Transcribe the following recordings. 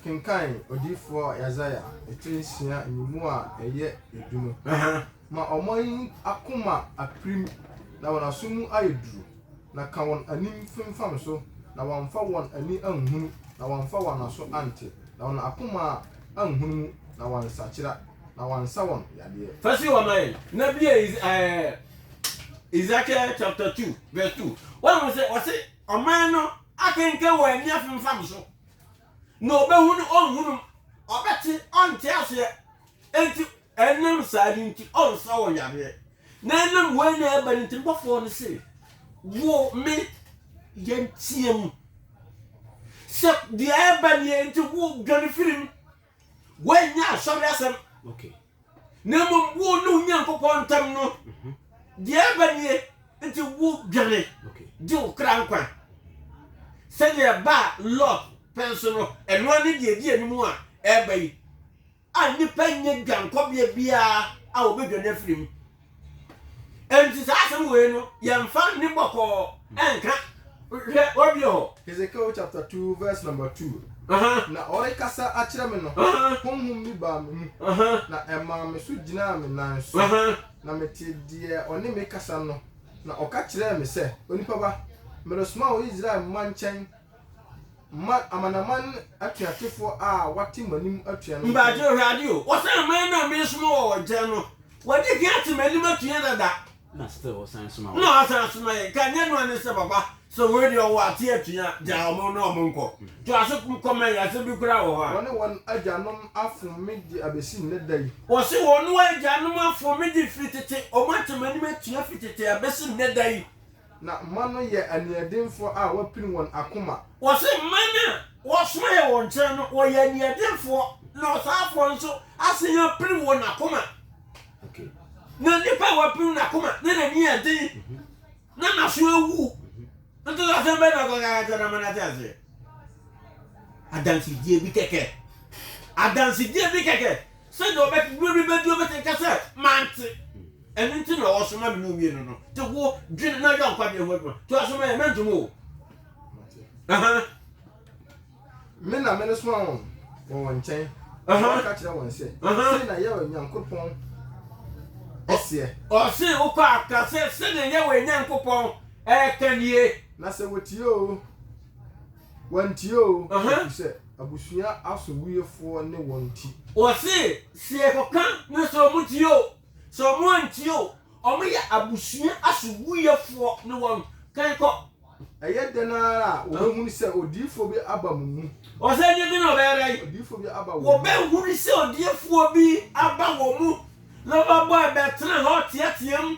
Kenkan odiyifoɔ Yesaia tiri nsia mmienu a ɛyɛ edu no. Ma wɔn akoma apirim na wɔn aso mu ayɛ duru, na ka wɔn anim femfam so, na wɔamfa wɔn ani anhunu, na wɔamfa wɔn aso ante, na wɔn akoma anhunu mu, na wɔansakyera. na wansa wɔn yadeɛ. Fa si hɔ ma yɛn na bie Ezekiel chapter two verse two wɔn sɛ wɔsi ɔman no akenke wɔn ani afemfam so na ɔbɛhunu ɔnhunu ɔbɛte ɔnte aseɛ eti ɛnam saa ni nti ɔnsa wɔn yadeɛ na ɛnam wɔn na ɛba ne nti bɔfoɔ no se wo me yɛn team sɛ deɛ ɛba ne yɛn nti wo dwane firim. Woannya asɔre asɛm, na mmom wo ne Onyankopɔn ntam no mhm. deɛ ɛba nie, nti wo dwane gye wo kra nkwa sɛdeɛ ɛbaa Lot pɛn so no, ɛnoa ne deɛ ɛdi anim a ɛreba yi a nnipa nyɛ dwankɔbea biara a wɔbɛdwane afiri mu. Enti saa asɛm wei no, yɛmfa nne bɔkɔɔ nka. Hwɛ, wɔabue hɔ. Hesekiel chapter two verse number two. Na ɔrekasa akyerɛ me no, honhom bi baa me mu, na ɛmaa me so gyinaa me nan so, na metee deɛ ɔne me rekasa no, na ɔka kyerɛɛ me sɛ, Onipa ba, meresoma wo Israel mma nkyɛn, Ma amanaman atuatefoɔ a wɔate m'anim atua no ntɛm. Mpaakye Awurade o, wɔsɛ aman no a meresoma wɔ wɔn nkyɛn no, wɔadi kan ate m'anim atua dada, na still wɔsan soma wɔn. Na wɔasan asoma yɛn, ka nyɛ noa ne sɛ, Papa, sɛ wei deɛ ɔwɔ ate atua, gyae wɔn na wɔn nkɔ. Toa so kɔ ma yɛn, asɛm bi koraa wɔ hɔ a. Wɔne wɔn agyanom afom me de abɛsi nnɛ da yi. Wɔse wɔne wɔn agyanom afom me de firi tete, wɔate m'anim atua firi tete abɛsi nnɛ da yi. Na mma no yɛ aniɛdenfoɔ a wɔapini wɔn akoma. Wɔse mma no a wɔsomaɛ wɔn nkyɛn no wɔyɛ aniɛdenfoɔ na ɔsaafoɔ nso asan apini wɔn akoma. Na nipa a wɔapini n'akoma na n'ani yɛ den na n'aso awu nso asɛm bɛn na ɔka ka kyerɛ no ama no ate aseɛ? adansedie bi kɛkɛ. Adansedie bi kɛkɛ. Sɛdeɛ ɔbɛka berɛ bi bɛduru ɔbɛtumi ka sɛ mante. Ɛno nti na ɔsoma me ne mmienu no. Te wo dwene na yɛ nkwadeɛ ho adwuma. To asoma yɛ mɛntom o. Aha. Me na mene soma wɔn wɔ wɔn nkyɛn. Aha. Ɔka kyerɛ wɔn sɛ. Aha. Sɛ na yɛ Onyankopɔn ɛseɛ. Ɔse wokɔ aka sɛ sɛdeɛ yɛ wɔ Onyankopɔn ɛka nie. Na sɛ wɔtie oo, wɔantie oo, ɛfiri sɛ abusua asowuiɛfoɔ ne wɔn nti. Wɔse, sɛ yɛkɔka ne sɛ wɔtie oo, sɛ wɔantie oo, wɔyɛ abusua asowuiɛfoɔ ne wɔn. Kan kɔ. Ɛyɛ dɛn ara a, wɔbɛhunu sɛ odiyifoɔ bi aba mo mu. Wɔse, ɛnneɛ dɛn na wɔbɛyɛ dɛn. Odiyifoɔ bi aba wɔn mu. Wɔbɛhunu sɛ odiyifoɔ bi aba wɔn mu, na wɔabɔ abɛtena hɔ teateam.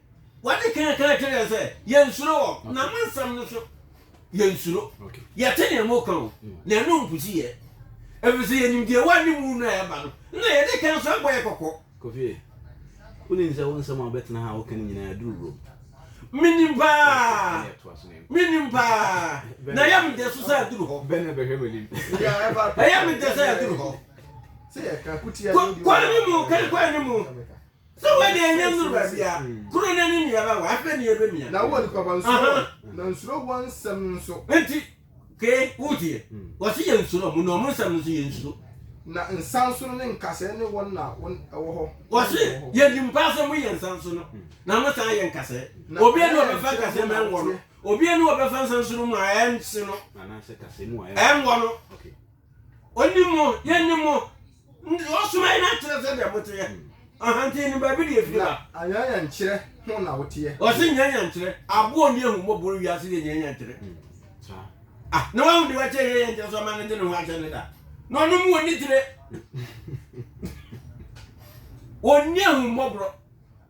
Wɔde ka ka kyerɛ yɛn sɛ yɛnsuro wɔn. Na mo nsɛm no so yɛnsuro. Yɛte nea moka o, mm. na ɛno nkosi yɛ. Ɛfiri sɛ yɛnim deɛ ɛwɔ ne mu no a ɛba no, na yɛde ka nso abɔ yɛ kɔkɔ. Kofie, wonim sɛ wo nsɛm a wobɛtena ha a woka no nyinaa aduru wurom. Menim paa. Menim paa. Na ɛyɛ me dɛ so sɛ aduru hɔ. Bɛn na ɛbɛhwɛ m'anim. Ɛyɛ me dɛ sɛ aduru hɔ. Kwan ne mu, kan kwan ne mu. Sɛ wo ani anya nnuru baabi a, kunu no ani nni abɛwa, afei ne yɛbɛmia. Na wo onipa ba, nsuro wɔn, na nsuro wɔn nsɛm no nso. Enti, ke, wotie? Wɔse yɛnsuro wɔn, na wɔn nsɛm no nso yɛnsuro. Na nsansono ne nkasɛɛ ne wɔn na wɔn wɔ hɔ. Wɔse, Yɛnim paa sɛ moyɛ nsansono, na mosan yɛ nkasɛɛ. Obia ni ɔbɛfa nkasɛɛ mu a ɛnwɔ no, obia ni ɔbɛfa nsansono mu a ɛnse no, ɛnwɔ no. Onim mo, Yɛnim mo. Nti ɔsomae no akyerɛ sɛdeɛ moteɛ. Aha nti nim baabi deɛ ɛfiri ba. Na anyanyankyerɛ ho na woteɛ. Ɔse nyanyankyerɛ. Aboɔ nni ahummɔborɔ wiase yɛ nyanyankyerɛ. Ah, na wahu de wakyɛ nyanyankyerɛ so ama no de ne ho ahyɛ no da. Na ɔnom wɔ ne tire. Wɔnni ahummɔborɔ.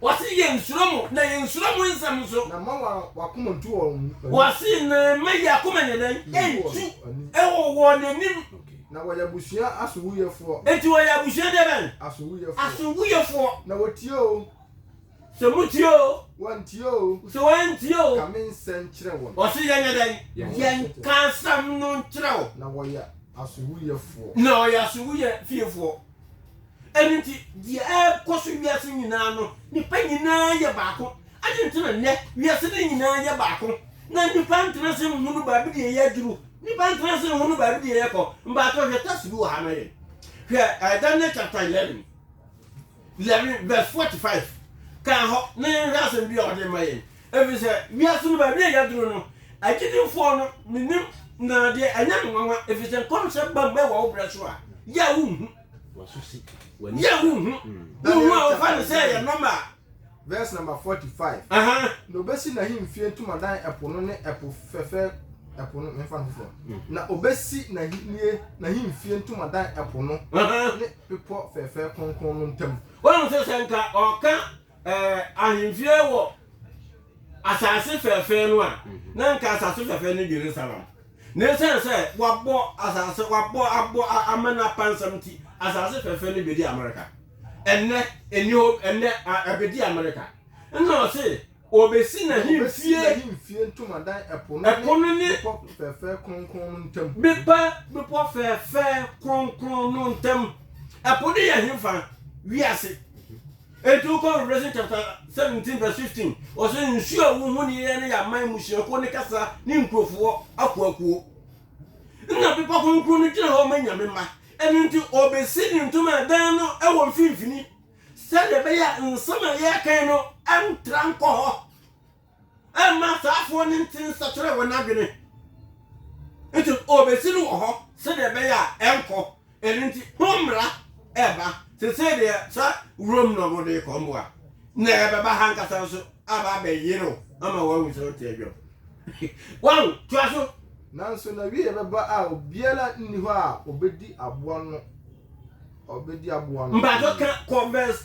Wɔse yɛnsuro mo, na yɛnsuro mo nsɛm nso. Na mma wɔn akoma ntu wɔn ani. Wɔse na mma yɛn akoma nyɛ dɛn? Ntu wɔ wɔn anim. Na wɔyɛ abusua asowuiɛfoɔ. Enti wɔyɛ abusua deɛ bɛn? Asowuiɛfoɔ. Asowuiɛfoɔ. Na wɔtie oo. Sɛ motie oo. Wɔantie oo. Sɛ wɔantie oo. Ka me nsɛm nkyerɛ wɔn. Wɔse yɛnyɛ dɛn? Yɛnka nsɛm no nkyerɛ wo. Na wɔyɛ asowuiɛfoɔ. Na wɔyɛ asowuiɛ fiefoɔ. Ɛno nti, deɛ ɛrekɔ so wiase nyinaa no, nnipa nyinaa yɛ baako. Adɛn nti na nnɛ wiase no nyinaa yɛ baako, na nnipa ntena ase nhunu baabi deɛ yɛaduru? Nnipa ntena ase nhunu baabi deɛ yɛkɔ. Mpakyɛw, hwɛ tɛs bi wɔ ha ma yɛn. Hwɛ eh, Daniel chapter eleven, eleven verse forty five. Kan hɔ na yɛnhwɛ asɛm bi a ɔde ma yɛn. Ɛfiri sɛ wiase no baabi a yɛaduru no, agyidifoɔ no menim na deɛ ɛnyɛ me nwanwa, ɛfiri sɛ nkɔmhyɛ ba mu ɛwɔ wo berɛ so a, yɛ a wonhu. yɛ wo hu wo hu a wofa no sɛ ɛyɛ nɔma verse number 45 na obesi n'ahemfie ntomadan ɛpo no ne ɛpo fɛfɛ ɛpo no mmefa no foforɔ mm. na obesi n'ahennie n'ahemfie ntomadan ɛpo no ne bepɔ fɛfɛ kronkron no ntam wɔn sɛ sɛ nka ɔka Ɛɛ, ahemfie wɔ asase fɛɛfɛɛ no a, mhm. na nka asase fɛɛfɛɛ ne Jerusalem. Na esiane sɛ wabɔ asase wabɔ abɔ amena pansam nti, asase fɛɛfɛɛ no bedi Amerika. Ɛnnɛ ɛni hɔ ɛnnɛ ɛbedi Amerika. Nna ɔse obesi n'ahemfie ntomadan ɛpo no ne bepɔ fɛɛfɛɛ kronkron no ntam. Bepɛ bepɔ fɛɛfɛɛ kronkron no ntam. Ɛpo no yɛ hefa wiase. Enti wokɔ Revelation chapter seventeen verse fifteen, ɔsɛ nsuo a wohu ne yɛyɛ no yɛ aman mmusuakuo ne kasa ne nkurofoɔ akuakuo. Nna bepɔ kronkron no gyina hɔ ma nyame mma. Ɛno nti ɔbɛsi ne ntoma dan no wɔ mfimfini sɛdeɛ ɛbɛyɛ a nsɛm a yɛreka yi no ntra nkɔ hɔ. ɛmma asraafoɔ no nte nsakyera wɔn adwene. Nti ɔbɛsi no wɔ hɔ sɛdeɛ ɛbɛyɛ a ɛnkɔ. Ɛno nti ho mmara ɛba. Sesei deɛ sɛ wurom na wɔde rekɔ mmoa na ɛbɛba ha nkasa nso aba abɛyere wo ama woahu sɛ wote adwam. Wahu, toa so. Nanso n'awieeɛ bɛba a obiara nni hɔ a ɔbɛdi aboa no. Ɔbɛdi aboa no. Mpakyɛ ka kɔ verse.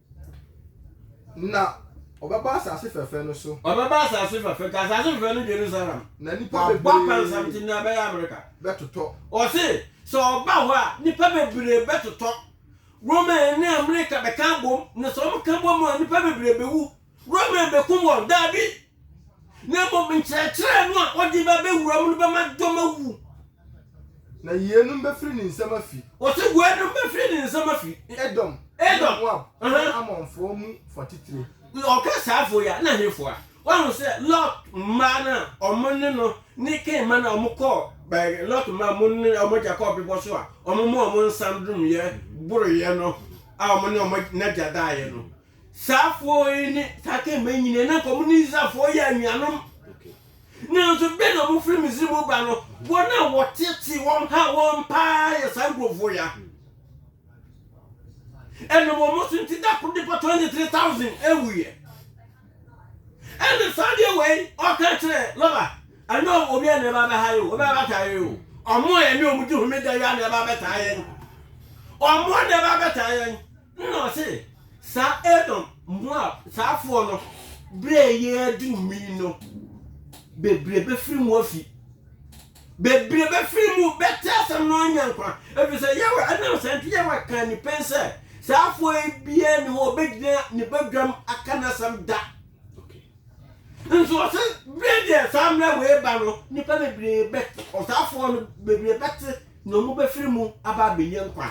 Na ɔbɛba asase fɛfɛ no so. Ɔbɛba asase fɛfɛ nti asase fɛfɛ no Jerusalem. Na nipa bebree. Wabɔ pansam nti nea ɛbɛyɛ Amerika. Bɛtotɔ. Ɔse sɛ ɔba hɔ a nipa bebree bɛtotɔ. Roman ne Amerika bɛka abom na sɛ wɔka bom a nipa bebree bewu. Roman bekum wɔn? Daabi. na mmom nkyerɛkyerɛ no a ɔde ba bɛwura mu no bɛma dɔm awu. Na yeinom bɛfiri ne nsam afi. Wɔse weinom bɛfiri ne nsam afi. Edom, Edom. ne Moab, ne Ammonfoɔ mu fa titire. Ɔka saa afo yi a, na hefoɔ a? Woahu sɛ Lot mmaa no a ɔmo ne no ne Kain mma no a ɔmo kɔɔ bɛɛ Lot mmaa a ɔmo ne ɔmo agya kɔɔ bebɔ so a ɔmo maa ɔmo nsa no domyɛ boroyɛ no a ɔmo ne ɔmo n'agya daeɛ no Saafoɔ yi ne Sakem mma nyinaa, na anka wɔne Israelfoɔ yɛ anuanom. Nanso bere na wɔfiri Misri mu ba no, wɔn a wɔtetee wɔn haa wɔn paa yɛ saa nkurɔfoɔ yi a ɛnam wɔn so nti da koro nipa 23,000 awuiɛ. Ɛna saa deɛ wei ɔka kyerɛ Laba, ɛnyɛ obi a na ɛba bɛha yɛ o, obi a bɛtaa yɛ o. Wɔn a yɛne wɔn di homeda yi a na ɛba bɛtaa yɛn. Wɔn a na ɛba bɛtaa yɛn. Nna ɔse, Saa Edom, Moab, saafoɔ no, berɛ a ɛyɛ aduru mi no, bebree bɛfiri mu afi, bebree bɛfiri mu bɛte asɛm no anya nkwa, ɛfiri sɛ Yahweh, ɛnam saa nti Yahweh kaa ni pen sɛ, saafoɔ yi biara nni hɔ a ɔbɛgyina ne badwam aka n'asɛm da. Nso ɔse, berɛ deɛ saa mmerɛ wei reba no, nnipa bebree bɛte, ɔsaafoɔ no bebree bɛte na wɔbɛfiri mu aba abɛnya nkwa.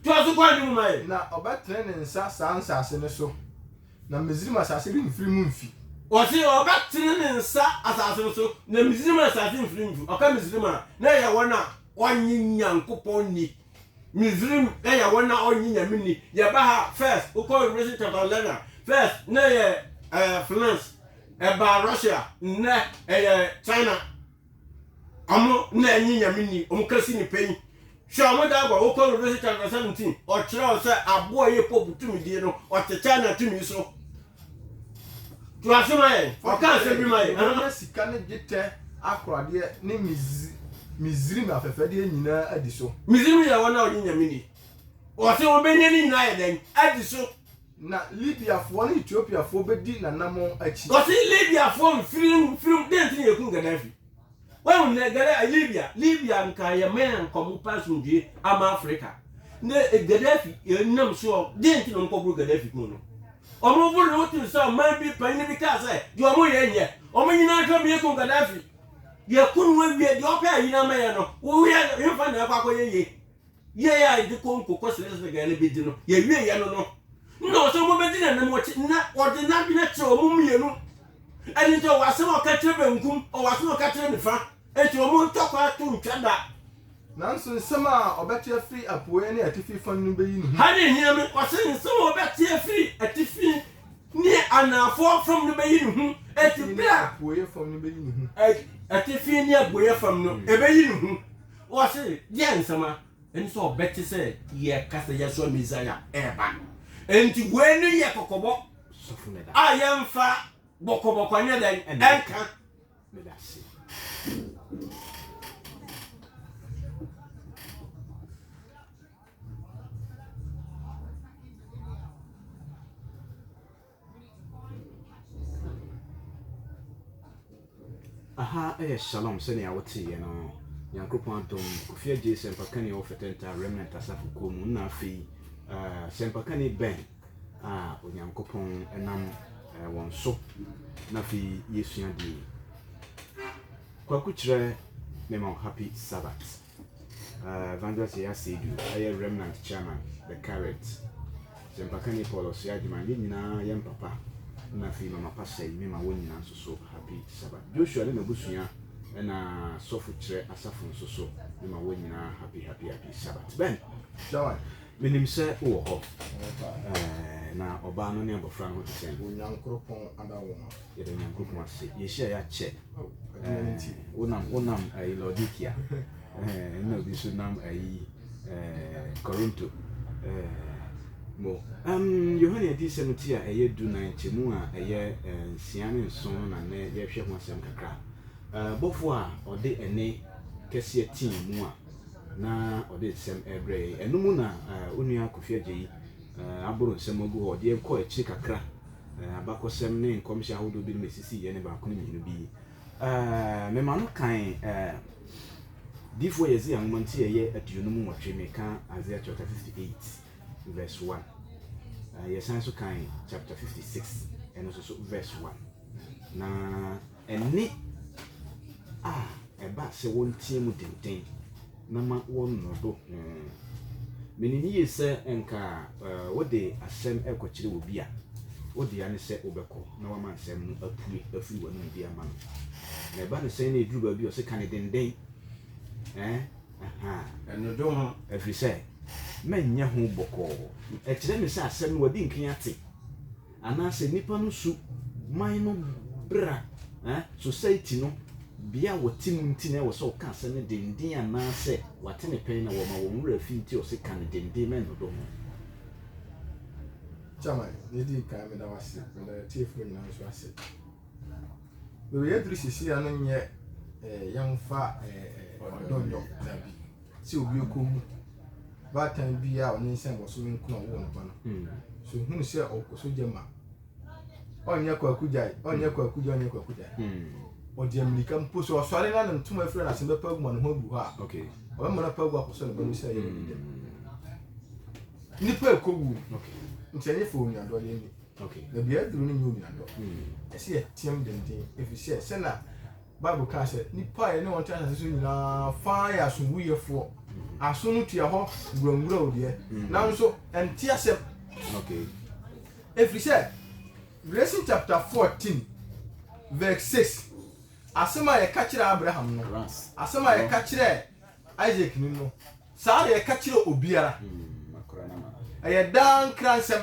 Toa so kɔ anim ma yɛn. Na ɔbɛtene ne nsa saa nsase no so, na Misraim asase remfiri mu mfi. Ɔse ɔbɛtene ne nsa asase no so, na Misraim asase remfiri mu mfi. Ɔka Misraim a, na ɛyɛ wɔn a wɔnnye Nyankopɔn nni. Misraim yɛ wɔn a wɔnnye Nyame nni. Yɛba ha a, first, wokɔ Revelation chapter 11 a, first, na ɛyɛ ɛɛ, finance, ɛbaa Russia, nnɛ ɛyɛ China. Ɔmo na ɛnye Nyame ni, ɔmo ka si nipa yi. Hwɛ ɔmo da agua, wo kɔ Revelation chapter 17, ɔkyerɛ wo sɛ aboa yɛ Pope tumidie no, ɔte China tumi so. To ase ma yɛn, ɔka asɛm bi ma yɛn. Aha. Mɛnya sika ne dwetɛ akoradeɛ ne Misrim afɛfɛdeɛ nyinaa adi so. Misrim yɛ wɔn a wɔnye Nyame ni. Ɔse wɔbɛnya ne nyinaa ayɛ dɛn? Adi so. Na Libiafoɔ ne Etiopiafoɔ bɛdi n'anammɔn akyi. Wɔse Libiafoɔ mfiri no mfirim dɛn nti na yɛkum Gaddafi? Wahu nnɛ Gadda Libia Libia nka yɛ man a nka ɔmo pɛ asomdwoe ama Africa Nnɛ Gaddafi nam soɔ dɛn nti na ɔmo kɔboro Gaddafi kum no? Ɔmo boro no wotee sɛ ɔman bi panyin bi kaa sɛ deɛ ɔmo yɛ nyɛ ɔmo nyinaa hwɛ ɔmo yɛkum Gaddafi yɛku no awie deɛ ɔpɛ a yina mɛyɛ no woyɛ hemfa na akɔ akɔyɛ yie? Yɛɛ a yɛde kɔ nkokɔ Schleswig no bi de no, yɛwieeɛ no no, na ɔsɛ wɔbɛdi n'anim wɔkye, na ɔde n'adwene kyerɛ wɔn mmienu. Ɛno nti ɔwɔ asɛm a ɔka kyerɛ benkum, ɔwɔ asɛm a ɔka kyerɛ nifa, enti wɔn ntɔ kwan to ntwa da. Nanso nsɛm a ɔbɛte afiri apueeɛ ne atifi fa no bɛyi ne ho. Ha na ɛhia me, ɔsɛ nsɛm a ɔbɛte afiri atifi ne anaafoɔ fam no bɛyi ne ho, enti berɛ a. Atifi ne apueeɛ fam no bɛyi ne ho. Atifi ne apueeɛ fam no, ɛbɛyi ne ho. Wɔse, Yɛn nsɛm a ɛne sɛ wɔbɛte sɛ yɛreka sɛ yɛasoa Mesia reba no. Enti wei ne yɛ kɔkɔbɔ a yɛmfa bɔkɔbɔkɔ nyɛ dɛn nka. Aha yɛ shalom sɛnea woteeɛ no Nyankropɔn adom Kofi Adjei sɛmpakani a ɔwɔ Fɛtɛntaa Remnant Asafo kuo mu na afei uh, sɛmpakani bɛn a Onyankopɔn nam uh, wɔn so na afei yɛsua deɛ Kwaku kyerɛ mema wo happy sabbath Evangelist Yaya Seidu yɛ Remnant Chairman, The Carrot. Sɛmpakani Paul Ɔsoɛagyemang, yɛn nyinaa yɛn papa na afei Mama Pastor Ime ma wɔn nyinaa nso so Happy Sabbath. Joshua ne n'abusua ɛna Sɔfo Kyerɛ Asafo nso so me ma wɔn nyinaa Happy Happy Happy Sabbath. Ben, Joy, menim sɛ wowɔ hɔ. Ɛɛ, na ɔbaa no ne abɔfra no ho te sɛn? Onyankoropɔn ada wo ho. yɛda nyankopɔn ase yɛhyia yɛakyɛ wonam wonam ayi laodikia ɛna obi so nam ayi korinto mo yohane adiyisɛm ti a ɛyɛ du na nkyɛmu a ɛyɛ nsia ne nson no na nnɛ yɛhwɛ ho asɛm kakra bɔfo a ɔde ɛne kɛseɛ tii mu a na ɔde nsɛm ɛbrɛ yɛn ɛno mu na onua kofi agye yi aboro nsɛm agu hɔ ɔde yɛn kɔ akyiri kakra Eh, abakɔsɛm ne nkɔmhyɛ ahodoɔ binom a ɛsisii yɛ ne baako ne mmienu bi. Eh, mema no kan eh, Difoɔ Yesaia nwoma nti ɛyɛ aduonum nwɔtwe, meka Isaiah chapter 58 verse 1. Eh, yɛsan so kan chapter 56 ɛno nso so verse 1. Na Ɛnne a ɛba sɛ wɔnteɛm denden na ma wɔnnɔdo ho. Minim yiye sɛ anka wode asɛm rekɔkyerɛ obi a, wo dea ne sɛ wobɛkɔ na woama nsɛm no apue afiri w'anom de ama no. Na ɛba no sɛn na eduru baabi a ɔse ka ne denden? Ɛɛ, ahaa. Ɛnnɔdo ho. Ɛfiri sɛ, mɛnyɛ ho bɔkɔɔ. Ɛkyerɛ me sɛ asɛm no wadi nkan ate. Anaasɛ nnipa no su, man no bra, eh, society no, bea a wɔte mu nti na ɛwɔ sɛ ɔka asɛm no denden anaasɛ wate ne pɛn na wɔma wɔn werɛ afi nti ɔse ka no denden ma ɛnnodɔ ho. Chairman, na edi kan meda wo ase, meda atiefoɔ nyinaa nso ase. Baabi yɛaduru seesei ano nyɛ eh, yɛmfa eh, eh, ɔdɔ nyɛ ɔdabi. sɛ obi rekohu baatan bi a ɔnyinsɛn wɔ so menkunu a ɔwoo ne ba no. Hmm. So hunu sɛ ɔkɔ so gye ma. Ɔnyɛ kwaku gyae, ɔnyɛ kwaku gyae, ɔnyɛ kwaku gyae. Hmm. Ɔde amirika mpo so ɔsɔre na ne ntoma afiri na asɛm bɛpa agu ma ne ho agu hɔ a. Okay. Ɔbɛma no pa agu akɔsɔ ne ba no sɛ ɛyɛ ne dɛm. Hmm. Nipa ɛkɔwu. Okay. Nti ɛnyɛ fɛ onuadɔ yɛ ni. Okay. Na bia aduru no nyɛ onuadɔ. Hmm. Ɛsɛ yɛteam denden ɛfiri sɛ sɛ na Bible kaa sɛ nnipa a yɛne wɔn te asase so nyinaa fa yɛ asomduyɛfoɔ aso no tua hɔ nguangura o deɛ mm. nanso ɛnte asɛm ɛfiri sɛ Revelation chapter 14 verse 6 asɛm a yɛka kyerɛ Abraham no asɛm a yɛka kyerɛ Isaac ni no saa na yɛka kyerɛ obiara mm, ɛyɛ daa nkra nsɛm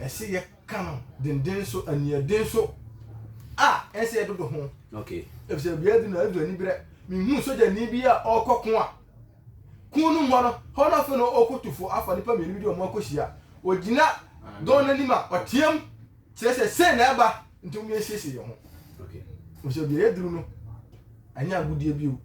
ɛsɛ yɛka no denden so aniɛden so a ɛsɛ yɛdodo ho okay efisɛ bia bi na ɛdu aniberɛ mehu sogyani bi a ɔkɔ ko a kun no mmɔ no hɔ no afei na ɔkɔtufo afa nipa mmienu bi de ɔmo akɔhyia ɔgyina dɔn no anim a ɔteam kyerɛ sɛ sei na ɛba nti ɔmo yɛnsiesie yɛn ho efisɛ bia yɛduru no ɛnyɛ agodie bio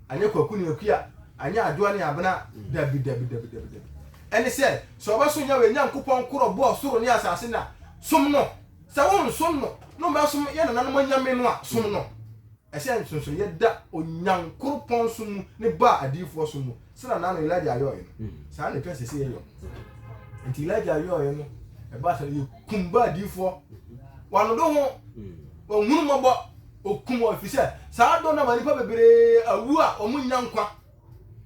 Anyɛ Kwaku ne Akua, anyɛ Adwoa ne Abena, dabi, dabi, dabi, dabi, dabi. Ɛne sɛ, sɛ wɔbɛsom Yahweh Nyankopɔn koro a ɔbɔɔ soro ne asase no a, som no. Sɛ wonsom no, na wɔbɛsom yɛn nananom anyame no a, som no. Ɛhyɛ nsonsonoeɛ da Onyankoropɔn som mu ne Baal adiyifoɔ som mu, sɛdeɛ naano Elijah yɔeɛ no. Saa ara na ɛtwa sɛ ɛsɛ yɛyɔ. Enti Elijah yɔeɛ no, ɛbaa sɛ yɛkum Baal adiyifoɔ. Wannodwo ho, wanhunu mmɔbɔ. Okum wɔn efisɛ saa dɔ no ama nnipa bebree awu a wɔnnya nkwa.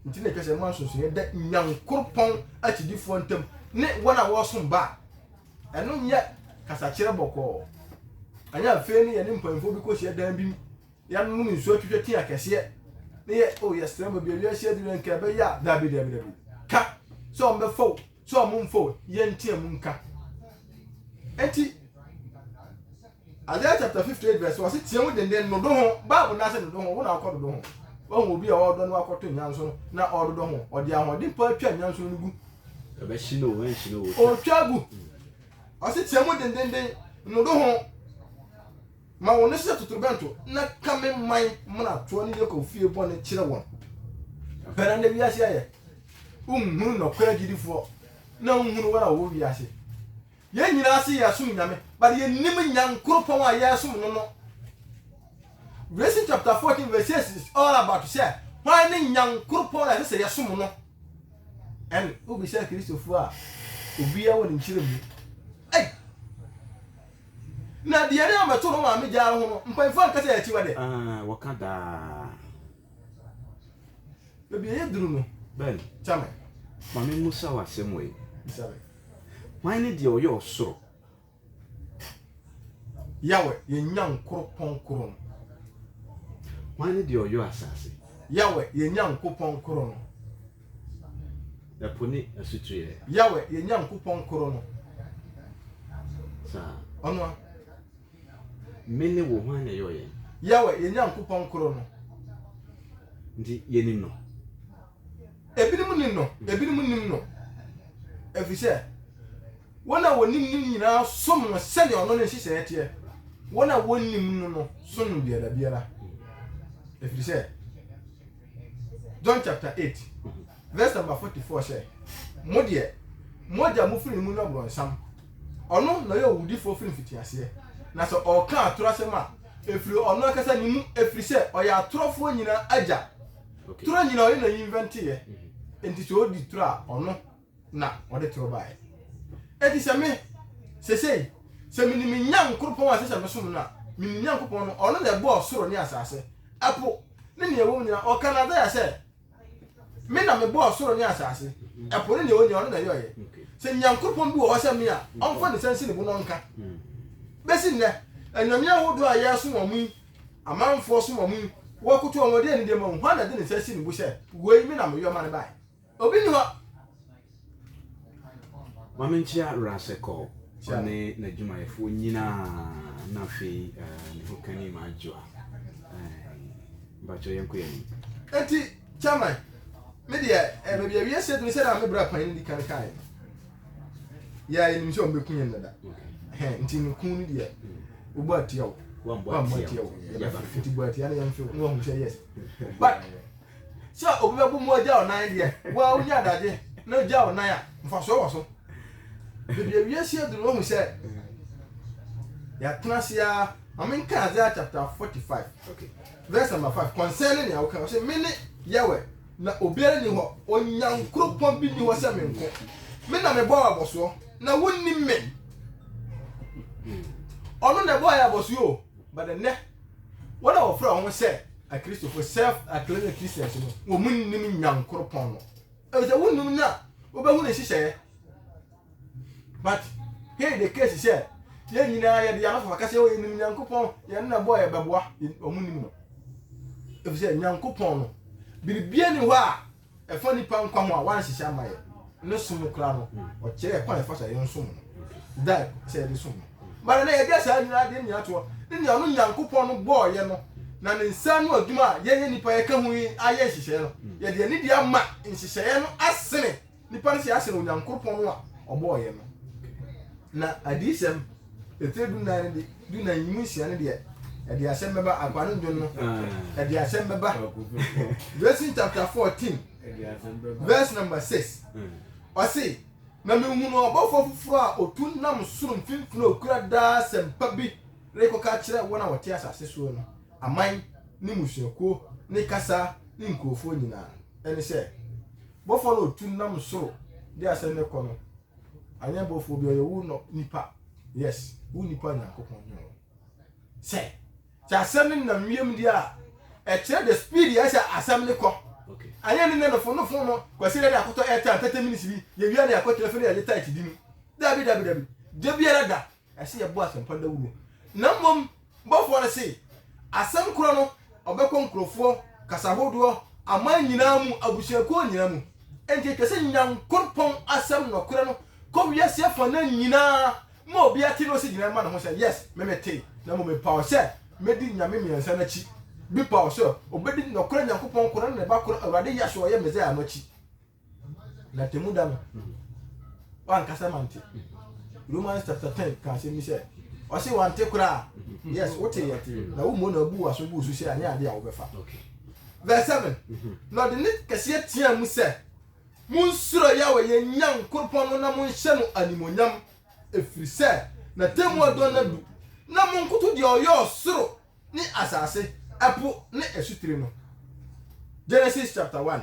Nti na ɛtwa sɛ ɛma nsonsonoeɛ da Nyankoropɔn akyidifoɔ ntam ne wɔn a wɔresom ba a. Ɛno nyɛ kasakyerɛ bɔkɔɔ. Anyɛ afei no yɛne mpanyimfoɔ bi kɔhyia dan bi mu, yɛnom nsuo atwitwa ti akɛseɛ, ne yɛ o yɛsrɛ mu baabi a wiase aduru yɛ nka ɛbɛyɛ a daabi daabi daabi. Ka sɛ wɔn bɛfa o, sɛ wɔn mfa o, yɛnteam nka. Enti Isaiah chapter 58 vs 1 ɔse team denden nodo ho bible no ase nodo ho wo na wokɔ dodo ho wahu obi a ɔdɔ no wakɔto nyanso no na ɔdodɔ ho ɔde ahoɔden paa twa nyanso no no gu ɛbɛhye no ɛnhye no ɔtwa gu ɔse team dendenden nodo ho ma wo no sɛ totorobɛnto na ka me man mmratoɔ ne Yakob fie bɔne kyerɛ wɔn pɛna na wiase ayɛ wonhunu nɔkorɛ gyidifoɔ na wonhunu wɔn a wɔwɔ wiase Yɛn nyinaa se yɛsom Nyame but yɛnnim Nyankoropɔn a yɛresom no no. Revelation chapter 14 verse 6 is all about sɛ hwan ne Nyankoropɔn a ɛsɛ sɛ yɛsom no. And wobisa Kristofoɔ a obiara wɔ ne nkyerɛ mu. Ei! Na deɛ ne amɛto no maame gyaa no ho no, mpanyinfoɔ anka sɛ akyiwa deɛ. Ahaa, wɔka daa. Baabi a yɛduru no, Ben, kyɛ me. ma memmusa wo asɛm wei. Bisa me. Hwan ne deɛ ɔyɛ ɔsoro? Yahweh, yɛn Nyankopɔn koro no. Hwan ne deɛ ɔyɔ asase? Yahweh, yɛn Nyankopɔn koro no. Ɛpo ne asutueɛ. Yahweh, yɛn Nyankopɔn koro no. Saa. Ɔno a. Me ne wo, hwan na ɛyɔɔ yɛn? Yahweh, yɛn Nyankopɔn koro no. Nti yɛnim no. ebinom nim no ebinom nim no ɛfiri sɛ wɔn a wɔnim no nyinaa som no sɛdeɛ ɔno ne nhyehyɛeɛ teɛ wɔn a wɔnnim no no som no biara biara ɛfiri sɛ john chapter 8 verse number 44 sɛ mo deɛ mo agya mo firi mu no aborɔnsam ɔno na ɔyɛ owudifoɔ firi mfitiaseɛ na sɛ ɔka atorɔ asɛm a ɛfiri ɔno ankasa ne mu ɛfiri sɛ ɔyɛ atorɔfoɔ nyinaa agya Okay. Toro nyina ɔyɛ na invente yɛ. Enti sɛ odi toro a ɔno na ɔde toro baeɛ. Enti sɛ me sesei sɛ menim me Nyankoropɔn a ɛsɛ sɛ mesom no a menim Nyankopɔn no ɔno na ɛbɔɔ soro ne asase, ɛpo ne nea ɛwɔ mu nyinaa. Ɔka no Isaiah sɛ me na mebɔɔ soro ne asase, ɛpo ne nea ɛwɔ nyinaa ɔno na ɛyɛeɛ. Sɛ Nyankoropɔn bi wɔ hɔ sɛ me a ɔmfa ne nsa nsi ne bo na ɔnka. Bɛsi nnɛ anyame ahodoɔ a yɛsom wɔn yi Amanfoɔ som wɔn, wɔkoto wɔn, wɔde anidie ma wɔn. Hwan na ɔde ne nsa si ne bo sɛ, Wei, me na meyɔ ma no baeɛ? Obi nni hɔ! Ma menkyea Rasecol, ɔne n'adwumayɛfoɔ nyinaa, na afei ne hokani ma Adjoa. Ɛɛi, mpakyɛ yɛnkɔ yɛn anim. Enti, Chairman, me deɛ, baabi a wiase aduru sɛdeɛ me bra panin no di kan kaeɛ no, yɛ yɛnim sɛ ɔmbɛku yɛn dada nti no ku no deɛ wobɔ atia wo wammɔ atia wo yɛbɛfrɛ nti bɔ atia no yɛmfrɛ na wahu sɛ yes but sɛ obi bɛbo mu agya ɔnan deɛ woa wonya adagye na gya ɔnan a mfasoɔ wɔ so baabi awie si aduru wahu sɛ yɛatena ase a ma menka Isaiah chapter 45 okay. verse number 5 concerning nea woka ɔsɛ mene yɛwɛ Na obiara nni hɔ, Onyankroɔpɔn bi nni hɔ sɛ me nko. Me na mebɔɔ abɔsoɔ, na wonnim me. Ɔno na ɛbɔɔ yɛn abɔsoɔ o, but ɛnnɛ, wɔn a wɔfrɛ wɔn ho sɛ Akristofo, self-acclaimed Christians no, wɔn nnim Nyankroɔpɔn no. Ɛfiri sɛ wonnim no a, wobɛhu ne nhyehyɛeɛ. But here the case sɛ yɛn nyinaa yɛde yɛn anofafa ka sɛ yɛnim Nyankopɔn, yɛn na ɛbɔɔ yɛn bɛboa, wɔn nim no. Ɛfiri sɛ Nyankopɔn no, biribia ni hɔ a ɛfa nipa nkwa ho a wanhyehyɛ ama yɛ. Ne som koraa no, ɔkyerɛ kwan ɛfa so a yɛn som no. Daa sɛ yɛde som no. But ɛnɛ yɛde asaa nyinaa de nyinaa toɔ. Ne nea ɔno Nyankopɔn no bɔɔ yɛ no, na ne nsa ano adwuma a yɛyɛ nipa yɛka ho yi ayɛ nhyehyɛeɛ no, yɛde anidie ama nhyehyɛeɛ no asene. Nnipa no si ara sen Onyankopɔn no a ɔbɔɔ yɛn no. Na Adiyisɛm etire dunan no de dunan yi mu nsia no deɛ ɛde asɛm bɛba akoa no ndwon no ɛde asɛm bɛba Revelation chapter fourteen verse number six ɔse na mehunu ɔbɔfoɔ foforɔ a otu nam soro mfimfini a okura daa asɛmpa bi rekɔka kyerɛ wɔn a wɔte asase soɔ no aman ne mmusuakuo ne kasa ne nkurɔfoɔ nyinaa ɛne sɛ Bɔfoɔ no ɔtu nam soro de asɛm no kɔ no anyɛ bɔfoɔ bi ɔyɛ wo nɔ nipa yes wo nipa nyankopɔn nyɛ wo sɛ sɛ asɛm no nam wiem deɛ a ɛkyerɛ the speed yɛ sɛ asɛm no kɔ anyɛ ne nɛ no fo no fo no kwasi dɛ ne akɔtɔ airtime tɛtɛ minutes bi yɛwia ne akɔtena fi ne yɛgye tight di no dabi dabi dabi da biara da ɛsɛ yɛbɔ asɛmpa dawuro. Na mmom bɔfoɔ no se, asɛm korɔ no ɔbɛkɔ nkurɔfoɔ, kasa hodoɔ, aman nyinaa mu, abusuakuo nyinaa mu. Enti ɛtwa sɛ Nyankoropɔn asɛm nɔkorɛ no kɔ wiase afanan nyinaa ma obiara te na ɔsi gyinae ma ne ho sɛ, Yes, me metee, na mmom me paw sɛ mɛdi nyame mmiɛnsa no akyi. Bi paw sɛ ɔbɛdi nɔkorɛ Nyankopɔn korɔ ne ne Ba korɔ, Awurade Yahshua a ɔyɛ Mesaia no akyi. na Atemmuda no wankasa mante Romans chapter ten ka asɛm bi sɛ ɔse wante koraa yes woteyɛ na wommɔ na abu waso gu so sɛ anyɛ ade a wobɛfa verse seven mhm. na ɔde ne kɛseɛ tea mu sɛ monsuro yɛwɔ yɛn nyankoropɔn no na monhyɛ no animonyam ɛfiri sɛ na tɛmu adɔ no adu na monkoto deɛ ɔyɛ ɔsoro ne asase ɛpo ne asutire no genesis chapter one.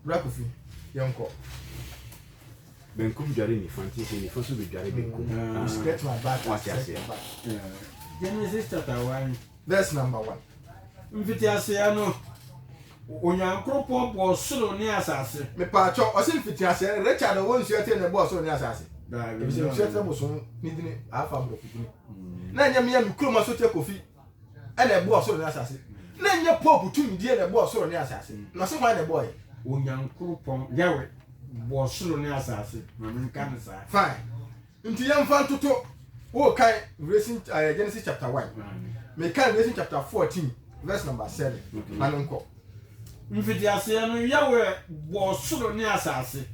Bra Kofi, yɛnkɔ. Benkum dware nifa nti sɛ nifa so bɛdware benkum. Mm. You scratch my back, I scratch your back. Genesis chapter one. Verse number one. Mfitiaseɛ no, Onyankopɔn bɔɔ soro ne asase. Mepaakyɛ, ɔse mfitiaseɛ, Richard ɔwɔ nsuatire na ɛbɔɔ soro ne asase. Ebisɛ nsuatire bosom ne dini afa aborɔfo dini. Mm. Na ɛnyɛ mmea me kurom asoteɛ kofi na ɛbɔɔ soro ne asase. Na ɛnyɛ pope tumidie na ɛbɔɔ soro ne asase. Na ɔse hwan na ɛbɔɔɛ? Onyankoropɔn, Yahweh, bɔɔ soro ne asase. Ma me nka no saa. Fine. Nti yɛmfa ntoto. Wo kan Revelation, uh, Genesis chapter 1. Me kan Revelation chapter 14 verse number 7. Okay. Ma no nkɔ. Mfitiaseɛ no, Yahweh bɔɔ soro ne asase.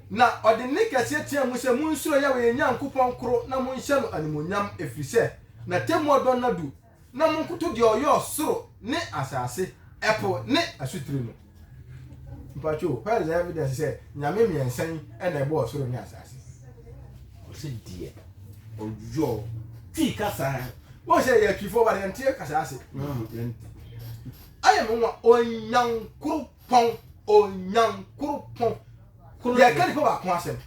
Na ɔde ne kɛseɛ teaa mu sɛ, Monsuro Yahweh yɛn Nyankopɔn koro na monhyɛ no animuonyam, ɛfiri sɛ. N'atemmu ɔdɔ nna du, na monkoto deɛ ɔyɛ ɔsoro ne asase, ɛpo ne asutire no. Mpakyɛw, where is the evidence sɛ Nyame mmiɛnsa yi na ɛbɔɔ ɔsoro ne asase? Ɔse deɛ ɔyɔ Twi kasa. Wohu sɛ yɛ Twifoɔ but yɛnte kasa ase. Ayɛ me nwa Onyankoropɔn, Onyankoropɔn. Yɛka nipa baako asɛm.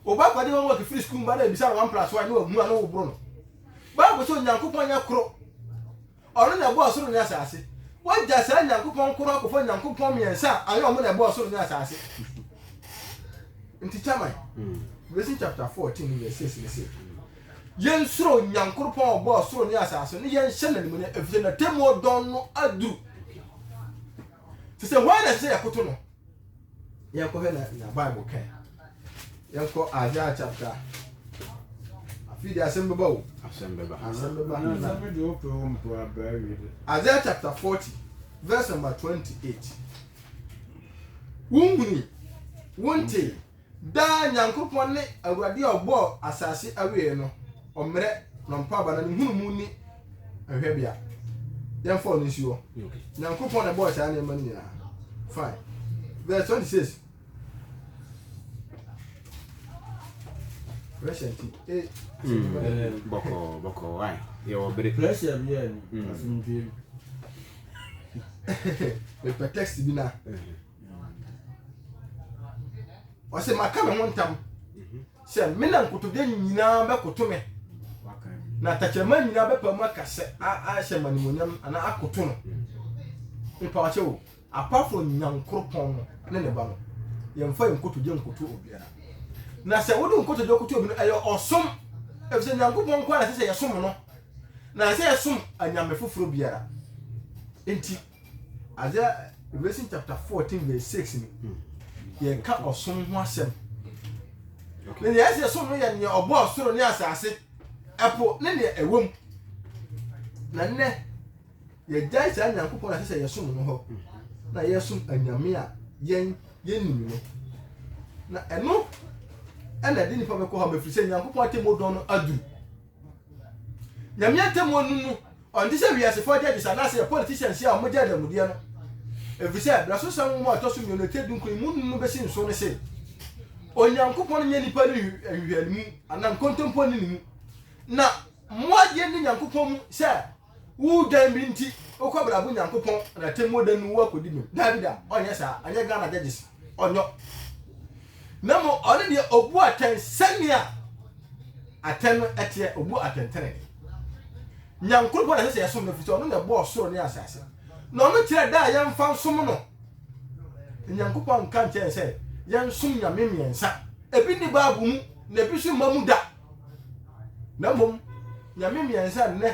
Wo ba kɔgye homework firi sukuu ba na ɛbisa no one plus one ne wamua ne woboro no. Bible sɛ Onyankopɔn yɛ koro. Ɔno na ɛbɔɔ soro ne asase. Woagya saa Nyankopɔn koro akɔfa Onyankopɔn mmiɛnsa a anyɛ ɔmo na ɛbɔɔ soro ne asase. Nti chairman, Revelation chapter 14 verse 6 ne sɛ yɛnsuro Onyankopɔn a ɔbɔɔ soro ne asase ne yɛnhyɛ n'animuonyam efisɛ n'atemmuo dɔn no aduru. Te sɛ hwan na ɛsɛ sɛ yɛkoto no? yɛnkɔhwɛ na na bible ka yɛnkɔ isaiah chapter afei de asɛm bɛba o asɛm bɛba asɛm bɛba isaiah chapter forty verse number twenty eight wonhuni wontee Daa Nyankopɔn ne Awurade a ɔbɔɔ asase awiei no, ɔmmerɛ, na ɔmpa aba, na ne nhunumu nni hwɛbea. Yɛmfa ɔno nsi hɔ. Nyankopɔn na ɛbɔɔ saa nneɛma no nyinaa. Fine. Verse 26. Pressure nti. Eh. Mm, bɔkɔɔ, bɔkɔɔ, why? Yɛwɔ bere. Pressure bi a ni. Mm. Asomdwe. Mepɛ text bi na. Mm-hmm. ɔsɛ maka me ho ntam sɛ me na nkotodwe nyinaa bɛkoto me na tɛkyerɛma nyinaa bɛpa mu aka sɛ ahyɛ ma nimonyam anaa akoto no mepa ɔkyɛ o apart from nyankoropɔn no ne ne ba no yɛmfa yɛn nkotodwe nkoto obiara na sɛ wode nkotodwe koto obi no ɛyɛ ɔsom efisɛ nyankopɔn nko ara sɛ sɛ yɛsom no na sɛ yɛsom anyame foforɔ biara nti Adze a Revelation chapter fourteen verse six no yɛka ɔsom ho asɛm. Na nea ɛsɛ som no yɛ nea ɔbɔɔ soro ne asase, ɛpo ne nea ɛwɔ mu. Na nnɛ yɛgyae saa Nyankopɔn na ɛsɛ sɛ yɛsom no hɔ na yɛsom anyame a yɛn yɛnim no. Na ɛno ɛna ɛde nipa bɛkɔ hɔ mɛfiri sɛ Nyankopɔn atemmuo dɔn no aduru. Nyame atemmuo no mu Ɔnte sɛ wiasefo judges anaasɛ yɛn politicians yi a wɔgye adanmudeɛ no, efisɛ Brasosɛm nwoma a ɛtɔ so mmienu, etire dunkron, emu nnum no besi nso no se, Onyankopɔn nyɛ nnipa no nhwehwɛanimu anaa nkontompo nni ne mu, na mo adeɛ nni Nyankopɔn mu sɛ woredwan bere nti wokɔ abrabɔ Nyankopɔn n'atemmuo da no mu akɔdi bem. Daabida, ɔnyɛ saa, ɛnyɛ Ghana judges. ɔnyɔ na mmom ɔne deɛ ɔbu atɛn sɛnea atɛn no ɛteɛ ɔbu atɛntɛnɛne nyankoropɔn na ɛsɛ sɛ yɛsom no ɛfiri sɛ ɔno na ɛbɔɔ soro ne asase na ɔno kyerɛ da a yɛmfa nsom no nyankopɔn nka nkyɛn sɛ yɛnsom nyame mmiɛnsa ebi ne baabu mu na ebi so mma mu da na mmom nyame mmiɛnsa nnɛ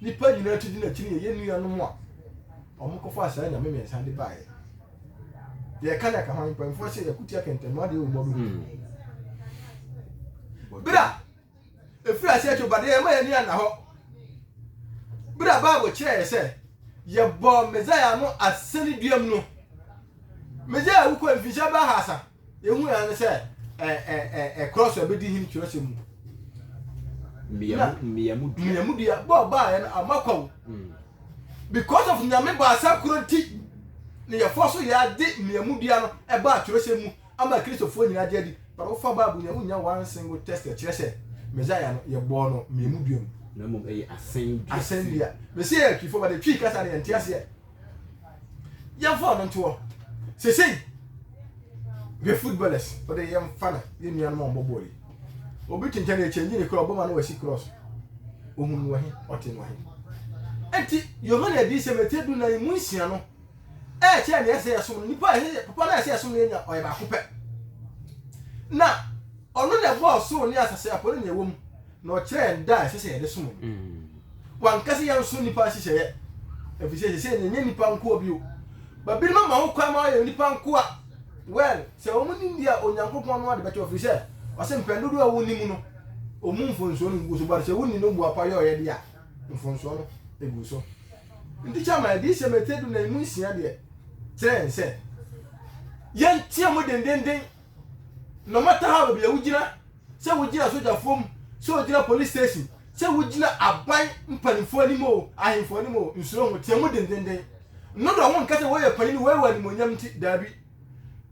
nipa nyinaa ti gyina akyi no yɛyɛ nuanom a wɔkɔfa saa nyame mmiɛnsa de baeɛ yɛka na ɛka hwan mpanyinfoɔ sɛ yɛko tia kɛntɛnma deɛ wɔ mmɔdo ho hmm. berɛ a ɛfiri aseɛ to badeɛ yɛma yɛni anna hɔ berɛ a bible kyerɛ yɛ sɛ yɛbɔɔ mesaia no asɛne duam no mesaia wokɔ mfinhyia bɛahasa Yɛhu ara ne sɛ ɛ ɛ ɛ ɛkorɔ so ɛbɛdi hene twerɛsɛm mu. Mmiamu dua. Mmiamu dua bɔ a baayɛ no ama kwa mu. Mm. Because of nyame baasa korɔ nti na yɛfoɔ so yɛade mmiamu dua no ɛbaa twerɛsɛm mu ama kristofoɔ nyinaa gye adi. But wofa Bible nyɛ wonya one single test ɛkyerɛ sɛ Messiah no yɛbɔɔ no mmiamu dua mu. Na mmom ɛyɛ asɛn dua. Asɛn dua. Mesi yɛ atwifoɔ but atwi kasa no yɛnte aseɛ. yɛmfa ɔno ntoɔ sesei hwɛ footballers ɔde yɛmfa no yɛ nuanom a ɔmbɔ bɔɔl yi obi tenkyɛ no ɛkyɛngye ne kura ɔbɔma no wasi cross ohun no ɔhe ɔte no ɔhe ɛnti yohane adiyisɛm ɛtɛ du na yi mu nsia no ɛkyɛ ne ɛsɛ yɛsom no nipa ɛsɛ papa no ɛsɛ yɛsom no yɛnya ɔyɛ baako pɛ na ɔno na ɛbɔɔ soro ne asase apɔ ne nea ɛwɔ mu Na ɔkyerɛ yɛn da a ɛsɛ sɛ yɛde som no. Wanka sɛ yɛnso nnipa nhyehyɛeɛ, ɛfiri sɛ seesei no ɛnyɛ nnipa nkoa bio. Ba binom ama ho kwan ma wɔayɛ nnipa nkoa. Well, sɛ wɔn nim deɛ a, Onyankopɔn no ara de bɛkyɛ wɔn, ɛfiri sɛ ɔse mpɛn dodoɔ a wɔnni mu no, ɔmmu mfomsoɔ no ngu so, but sɛ wonni no boapa yɔeɛ deɛ a, mfomsoɔ no gu so. Nti kyɛ ma Adiyisɛm etire dunan mu nsia deɛ kyerɛ yɛn sɛ yɛnteam dendenden No matter how baabi a wogyina, sɛ wogyina sogyafoɔ mu, sɛ wogyina police station, sɛ wogyina aban mpanimfoɔ anim o, ahemfo anim o, nsuro ho, teɛ mu dendenden. No dɔ ho nka sɛ wɔyɛ panyin, wɔyɛ wɔ animuonyam nti, daabi.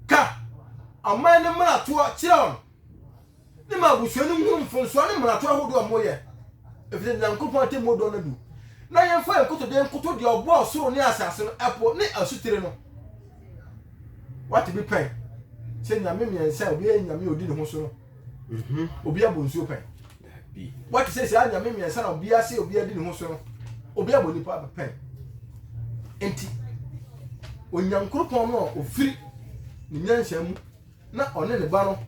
Ka aman no mmaratoɔ kyerɛ wɔn. Ne ma abusua no nhunu mfomsoɔ ne mmarato ahodoɔ a moyɛ, ɛfiri sɛ Nyankopɔn atemmuo dɔn adu. Na yɛmfa yɛn nkotodwe nkoto deɛ ɔbɔɔ ɔsoro ne asase no, ɛpo ne asutire no. Woate bi pɛn? Sɛ nyame mmiɛnsa a obiara yɛ nyame a ɔdi ne ho so no, obiara bɔ nsuo pɛn? Woate sɛ saa nyame mmiɛnsa na obiara se obiara di ne ho so no, obiara bɔ nipa pɛn? Enti Onyankopɔn no a ɔfiri ne nyansa mu na ɔne ne Ba no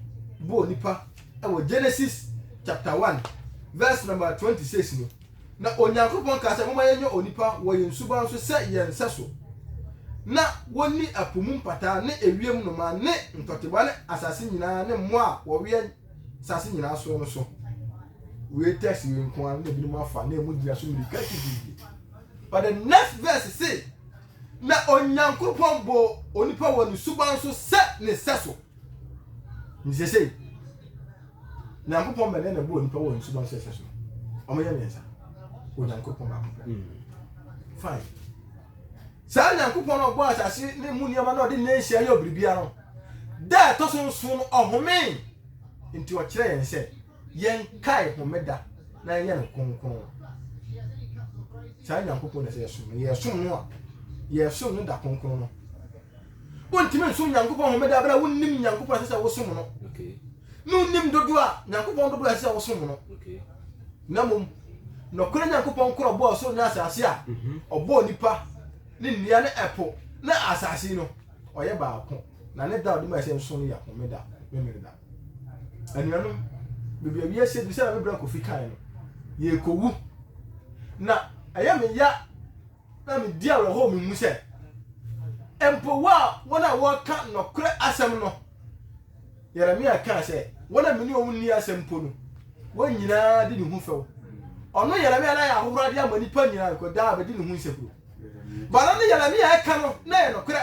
bɔɔ nnipa wɔ Genesis chapter one verse number twenty six mu. Na Onyankopɔn kaa sɛ, Momma yɛnyɛ onipa wɔ yɛn suban so sɛ yɛn sɛso, na wɔnni ɛpo mu mpataa ne ewiem nnomaa ne ntɔteboa ne asase nyinaa ne mmoa a wɔwea asase nyinaa soɔ no so. Wei text wei nko ara na ebinom afa na emu gyina so mmirika titititi. But the next verse say, Na Onyankopɔn bɔɔ onipa wɔ ne suban so sɛ ne sɛso. Nti sesei, Nyankopɔn bɛn na ɛbɔɔ onipa wɔ ne suban so sɛso? Wɔyɛ mmiɛnsa. Onyankopɔn baako pɛ. Hmm. Fine. Saa Nyankopɔn na ɔbɔɔ asase ne mu nneɛma na ɔde nnɛ nhyia yɛ biribiara no, da ɛtɔ so nson no ɔhomee. Nti ɔkyerɛ yɛn sɛ Yɛnkae homeda na yɛnyɛ no kronkron. Saa Nyankopɔn na sɛ yɛsom no, yɛsom no a, yɛsom no da kronkron no. Wontumi nsom Nyankopɔn homeda bere a wonnim Nyankopɔn ɛsɛ sɛ wosom no. Ne wonim dodoɔ a Nyankopɔn dodoɔ ɛsɛ sɛ wosom no. Na mmom, nɔkorɛ Nyankopɔn korɔ bɔɔ soro ne asase a mhm. ɔbɔɔ nipa ne nnua ne ɛpo ne asase no, ɔyɛ baako. Na ne da a ɔde mae sɛ nsõ no yɛ Homeda, Memeneda. Anuanom, baabi a wiase adu sɛnea me bra Kofi kae no, yɛrekowu. Na ɛyɛ me ya na medi awerɛhow me mu sɛ, mpo wo a wɔn a wɔreka nɔkorɛ asɛm no, Yeremia kaa sɛ, wɔn a me ne wɔn nni asɛm mpo no, wɔn nyinaa di ne ho fɛw. Ɔno Yeremia na ayɛ ahohorade ama nnipa nyinaa, because daa bɛdi ne ho nsɛburo. But na ne Yeremia ɛka no na ɛyɛ nɔkorɛ.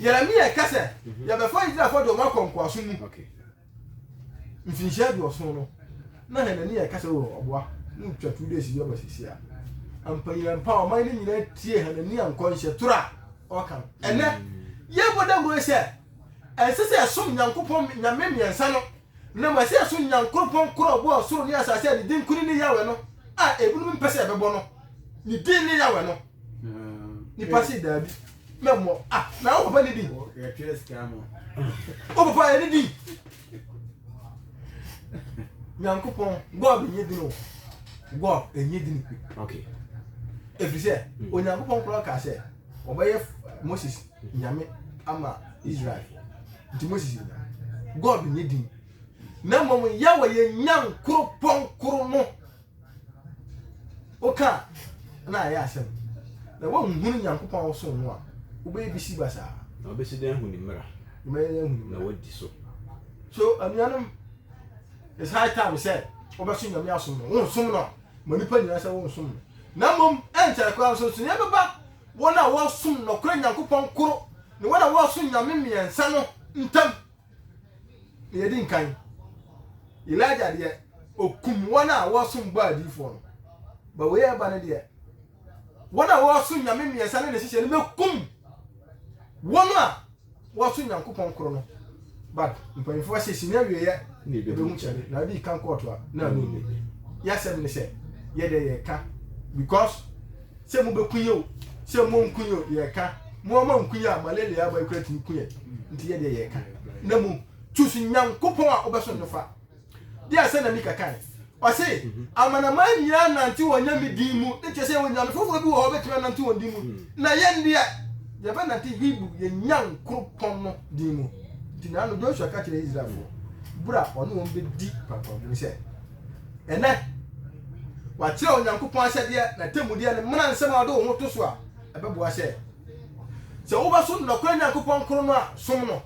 Yeremia reka sɛ mhm. yɛbɛfa Israelfoɔ de wɔn akɔ nkoasom mu. Mfinhyia aduɔson no, na Hanania reka sɛ oh, ɔboa na ɔtwa two days bi aba sisi a. Mpanyina mpa ɔman no nyinaa tie Hanania nkɔnhyɛ toro a ɔka no. Ɛnɛ, mm. yɛbɔ dawuro sɛ ɛnsɛ sɛ ɛsom Nyankopɔn nyame mmiɛnsa no, na mmom ɛsɛ ɛsom Nyankopɔn koro a ɔbɔɔ ɔsoro ne asase a ne din koro ne Yahweh no a ebinom mpɛ sɛ ɛbɛbɔ no. Ne din ne Yahweh no. Mm. Nipa se daabi. mɛ mɔ ah na o papa ni di o papa yɛ ni di nyankopɔn god nye dini o god enye dini okay efiri sɛ hmm. onyankopɔn korɔ ka sɛ ɔbɛyɛ moses nyame ama israel nti moses yɛ nyame god nye dini na mmom yɛwɔ yɛ nyankoropɔn koro no Woka a, nna ayɛ asɛm. Na woannhunu Nyankopɔn a ɔsoo no a, wobɛyɛ bisi basaa. Na wɔbɛsi dɛn ahu ne mmara. Na wɔbɛyɛ dɛn ahu ne mmara. Na wɔadi so. So anuanom, it's high time sɛ wobɛso Nyame asom no. Wonsom no a, ma nnipa nyinaa sɛ wonsom no. Na mmom, ɛnkyɛre koraa nsonsonoeɛ bɛba wɔn a wɔsom nɔkorɛ Nyankopɔn koro ne wɔn a wɔsom Nyame mmiɛnsa no ntam. Deɛ ɛdi nkan, Elijah deɛ ɔkum wɔn a wɔsom bɔ adiifoɔ no. Ba wei ɛba no deɛ, wɔn a wɔsom nyame mmiɛnsa ne ne hyehyɛ no bɛkum wɔn a wɔsom nyankopɔn koro no. But mpanyinfoɔ se si ne awieɛ ɛbɛhu kyɛde na adi kan kɔɔto a na ano nni. Yɛasɛm ne sɛ yɛdeɛ yɛka because Sɛ mo bɛ ku yɛ o, sɛ mo nku yɛ o, yɛ ka. Mo a mo anku yɛ a, malaria ama yi kura tumi ku yɛ. Nti yɛ deɛ yɛ ka. Na mo, choose Nyankopɔn a wobɛsom no fa. Deɛ sɛ na Mika kae. Ɔse, amanaman nyinaa nnante wɔn Nyame din mu, ne kyerɛ sɛ onyame foforɔ bi wɔ hɔ ɔbɛtumi anante wɔn din mu. Na yɛn deɛ, yɛbɛnante Hebrew, yɛn Nyankoropɔn no din mu. Nti naano Joshua ka kyerɛɛ Israelfoɔ, berɛ a ɔne wɔn bɛdi pampamu no sɛ. Ɛnnɛ, wɔakyerɛw Onyankopɔn ahyɛdeɛ, n'atemmudeɛ, ne mmara nsɛm a wode wo ho to so a ɛbɛboa sɛ sɛ wobɛsom nokorɛ Nyankopɔn koro no a, som no,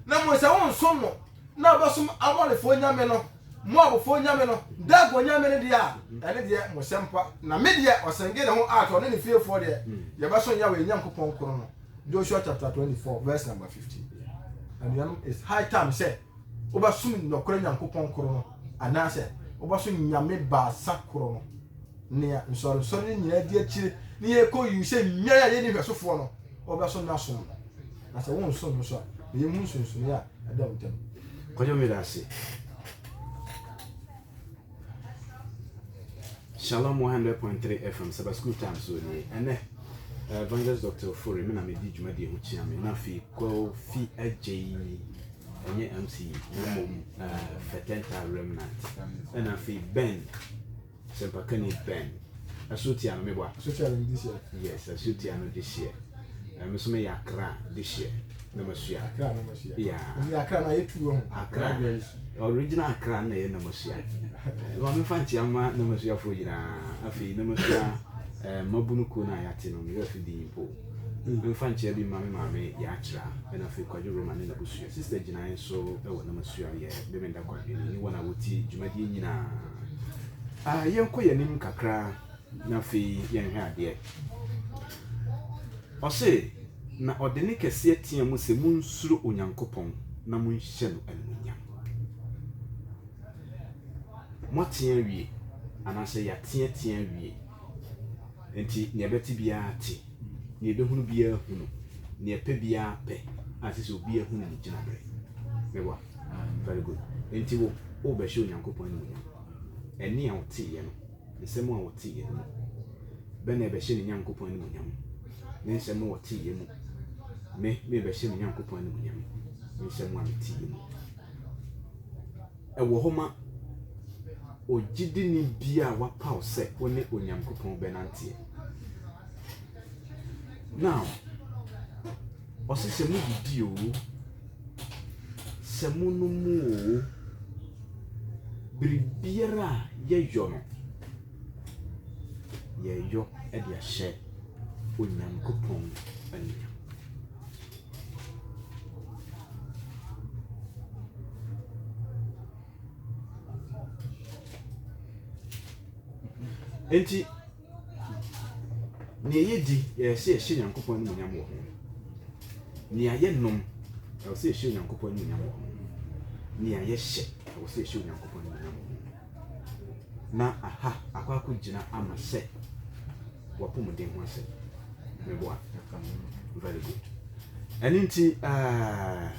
na mmom sɛ wonsom no na wobɛsom Amorifoɔ nyame no, Moabfoɔ nyame no, Dagon nyame no deɛ a, ɛne deɛ mo sɛmpa, na me deɛ, ɔsenge ne ho at ɔne ne fiefoɔ deɛ, yɛbɛsom Yahweh yɛn Nyankopɔn koro no. Joshua chapter 24 verse number 15 Anuanom, it's high time sɛ Wobɛsom nɔkorɛ Nyankopɔn koro no anaasɛ wobɛsom nyame baasa koro no? Nea nsɔrensɔre no nyinaa di akyire ne yɛn kɔ yiw sɛ nyan a yɛnni nhwɛsofoɔ no, wobɛso na asom no? Na sɛ wonso no nso a, bɛyɛ mu nsonsonoeɛ a ɛda wo ntam. Kwadwo Mena ase. Shalom 100.3 FM Saba School Time so ni ɛnɛ eh, Evangelist Dr. Ofori me na me di dwumadi ho kyia me na fi kɔ fi agye yi ɛnyɛ MC na mmom eh, Fetenta Remnant ɛna fi Ben Sempakani Ben ɛso tia no meboa yes ɛso tia no de hyeɛ ɛme so meyɛ akra de hyeɛ na masua akra na masua yeah yeah akra na yɛ tu wɔn akra original akra na yɛ na masua ma me fa nkyia ma na masua fo nyinaa afei na masua eh, mabunu kuo na yɛate no meyɛ afi din mpo mfa nkyia bi ma me maame yɛ akyerɛ ɛna afei kwadwo roma ne nabusua sister gyinae nso ɛwɔ na masua yɛ bɛmɛnda kwadwo ne ne wɔn a wɔti dwumadie nyinaa ah, yɛnkɔ yɛn anim kakra na afei yɛnhwɛ adeɛ Ɔse, na ɔde ne kɛseɛ tea mu se, Monsuro Onyankopɔn na monhyɛ no animuonyam. Moate awie, anaasɛ yɛateatea awie, enti nea ɛbɛte biara te, nea ɛbɛhunu biara hunu, nea ɛpɛ biara pɛ, a ɛsɛ sɛ obiara hunu ne gyinaberɛ. Meboa? Very good. Enti wo, worebɛhyɛ Onyankopɔn animuonyam. Ɛnne a woteeɛ no, Nsɛm a ɔteeɛ no mu bɛ na ɛbɛhyɛ ne Nyankopɔn animuonyam? Ne nsɛm a ɔteeɛ mu me merebɛhyɛ me Nyankopɔn animuonyam, me nsɛm a meteeɛ mu? Ɛwɔ hɔ ma ogyidini bi a wapaw sɛ ɔne Onyankopɔn bɛnanteɛ. Now, ɔse sɛ modidi oo, sɛ mo no mu oo, biribiara a yɛyɔ no, yɛyɔ de ahyɛ Onyankopɔn animuonyam. Enti, Nea ɛyɛ di, ɛyɛ sɛ yɛhyɛ Nyankopɔn animuonyam wɔ ho. Nea yɛ nom, ɛwɔ sɛ yɛhyɛ Onyankopɔn animuonyam wɔ ho. Nea yɛ hyɛ, ɛwɔ sɛ yɛhyɛ Onyankopɔn animuonyam wɔ ho. Na aha akɔ akɔ gyina ama sɛ wapɔmuden ho asɛm. Meboa? Very good. Ɛno nti, ah,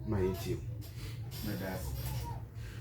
ma yɛntie o. Meda ase.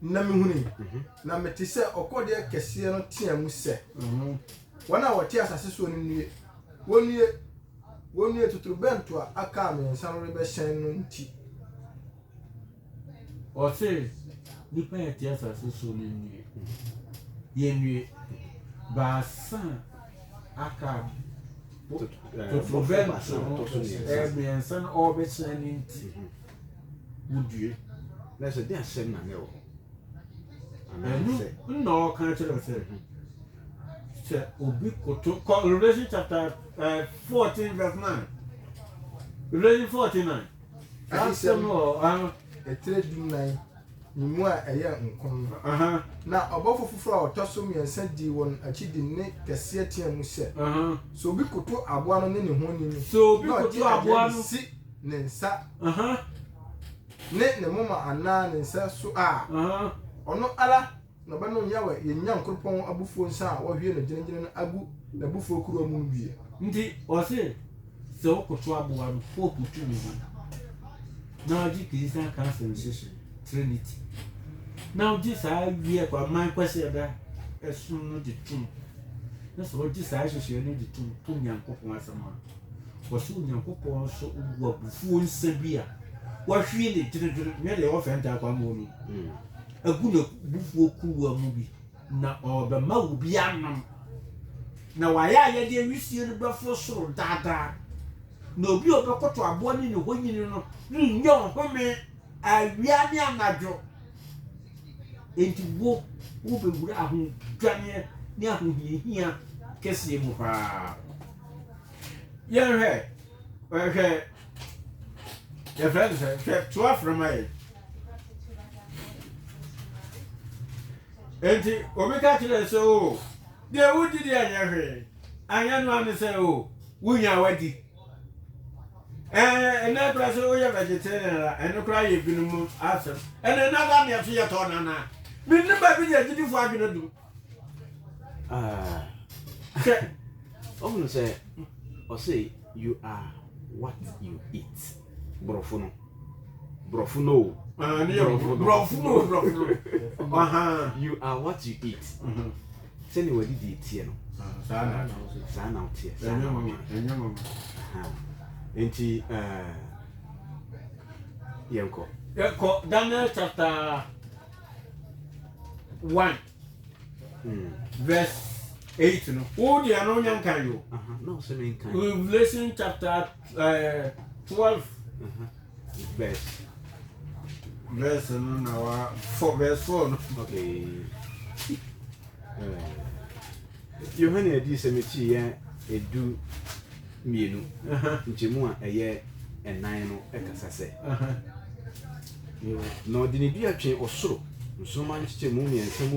Na mehunui, na mete sɛ ɔkɔdeɛ kɛseɛ no tea mu sɛ, Wɔn a wɔte asase soɔ no nnue, wɔnnue, wɔnnue, totorobɛnto a aka a mmiɛnsa no rebɛhyɛn no nti. Ɔse, nnipa a ɛte asase soɔ no nnue, yɛnnue, baasa aka totorobɛnto no mmiɛnsa no ɔrebɛhyɛn no nti. wodue na sɛ de asɛm na na ɛwɔ hɔ ɛno na ɔka kyerɛ wo sɛ sɛ obi koto kɔ revelation chapter uh, eh, 14 verse 9 revelation 49 asɛm wɔ ɛtirɛ dunan no mu a ɛyɛ nkɔm no. Na ɔbɔfo foforo a ɔtɔ so mmiɛnsa dii wɔn akyi de nne kɛseɛ teɛɛ mu sɛ, Sɛ obi koto aboa no ne ne honi no, na ɔgye aduan no si ne nsa ne ne moma anaa ne nsa so a, ɔno ara Na ɔbɛnom Yahweh yɛn Nyankopɔn abufuo nsã a wahwie no gyenengyene no agu n'abufuo kuruwa mu no bi. Nti ɔse sɛ wokoto aboa no Pope tumi ho na wagye Christian Council nhyehyɛe, Trinity, na wogye saa wiɛ kwa man kwasi ɛda ɛsono no gye tom na sɛ wogye saa nhyehyɛe no gye tom to Nyankopɔn asɛm a wɔse Onyankopɔn nso gu abufuo nsã bi a wahwie no gyenengyene nyɛ deɛ wɔfɛntaa kwa mmoɔ no mu. agu n'abufuo kuruwa mu bi, na ɔrebɛma wo bi anom. Na w'ayayɛdeɛ wisie no bɛforo soro daa daa, na obi a ɔbɛkoto aboa ne ne honyini no rennya ɔhome awia ne anadwo. Enti wo, wobɛwura ahodwaneɛ ne ahohiahia kɛseɛ mu paa. Yɛnhwɛ, hwɛ, yɛfrɛ no sɛ hwɛ to afrɛ ma yɛ enti obi ka kyerɛ sɛ o oh, deɛ wodi deɛ ɛnyɛ hwee anyɛ no ano sɛ o oh, wonya wadi eh, ɛnɛ kora sɛ woyɛ vegetarian a ɛno kora yɛ binom asɛm ɛnɛ nada neɛ so yɛtɔ no anaa menim baabi deɛ agyidifoɔ adwene dom Ah, sɛ ɔhunu sɛ ɔsɛ you are what you eat borɔfo no borɔfo no o ah, borɔfo no borɔfo no you are what you eat mm-hmm. sɛnea wadidi teɛ no ah, saa na woteɛ saa na woteɛ nti eh, yɛnkɔ yɛnkɔ daniel chapter one hmm. verse eight no wo deɛ no wonya nkan yo revelation chapter uh, twelve uh -huh. verse verse no na wa four verse four no okay. uh. Yohane Adiyisɛm akyi yɛ du mmienu nkyɛmu a ɛyɛ nnan no kasa sɛ, Na ɔde ne dua twee ɔsoro nsoromma nkyekyɛmu mmiɛnsa mu,